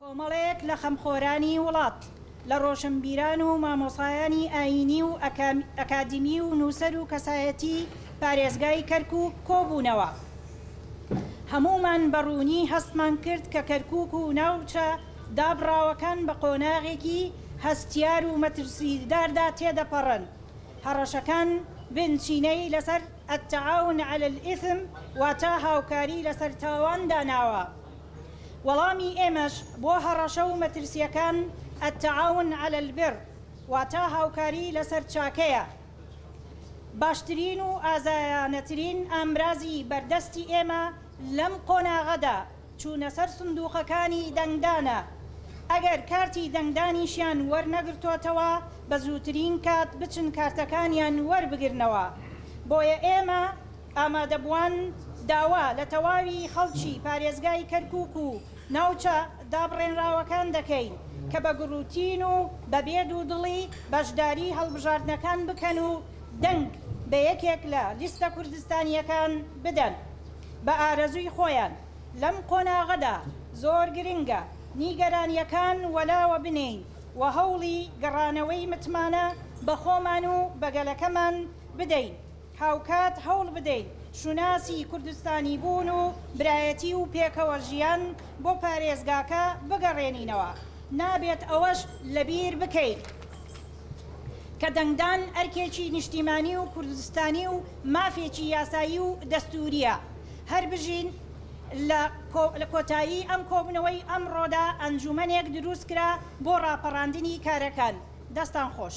کۆمەڵێک لە خەمخۆرانی وڵات، لە ڕۆشنبیران و مامۆسایانی ئایینی و ئەکادیمی و نووسەر و کەسایەتی پارێزگای کەرکووک کۆبوونەوە. هەموومان بە ڕوونی هەستمان کرد کە کەرکووک و ناوچە دابڕاوەکان بە قۆناغێکی هەستیار و مەترسیداردا تێدەپەڕن. هەڕەشەکان بنچینەی لەسەر التعاون علی الإثم واتە هاوکاری لەسەر تاوان داناوە. وەڵامی ئێمەش بۆ هەڕەشە و مەترسییەکان التعاون علی البر واتا هاوکاری لەسەر چاکەیە. باشترین و ئازایانەترین ئامرازی بەردەستی ئێمە لەم قۆناغەدا چوونە سەر سندووقەکانی دەنگدانە، ئەگەر کارتی دەنگدانیشیان وەرنەگرتۆتەوە بە زووترین کات بچن کارتەکانیان وەربگرنەوە، بۆیە ئێمە ئامادەبووان داوا لە تەواوی خەڵکی پارێزگای کەرکووک و ناوچە دابڕێنراوەکان دەکەین کە بە گوڕوتین و بە بێ دوودڵی بەشداری هەڵبژاردنەکان بکەن و دەنگ بە یەکێک لە لیستە کوردستانییەکان بدەن بە ئارەزووی خۆیان. لەم قۆناغەدا زۆر گرنگە نیگەرانییەکان وەلاوە بنێین و هەوڵی گەڕانەوەی متمانە بە خۆمان و بە گەلەکەمان بدەین. هاوکات هەوڵ بدەین شوناسی کوردستانیبوون و برایەتی و پێکەوە ژیان بۆ پارێزگاکە بگەڕێنینەوە، نابێت ئەوەش لەبیر بکەین کە دەنگدان ئەرکێکی نیشتیمانی و کوردستانی و مافێکی یاسایی و دەستوورییە. هەربژین. لە کۆتایی ئەم کۆبوونەوەی ئەمڕۆدا ئەنجوومەنێک دروست کرا بۆ ڕاپەڕاندنی کارەکان. دەستان خۆش.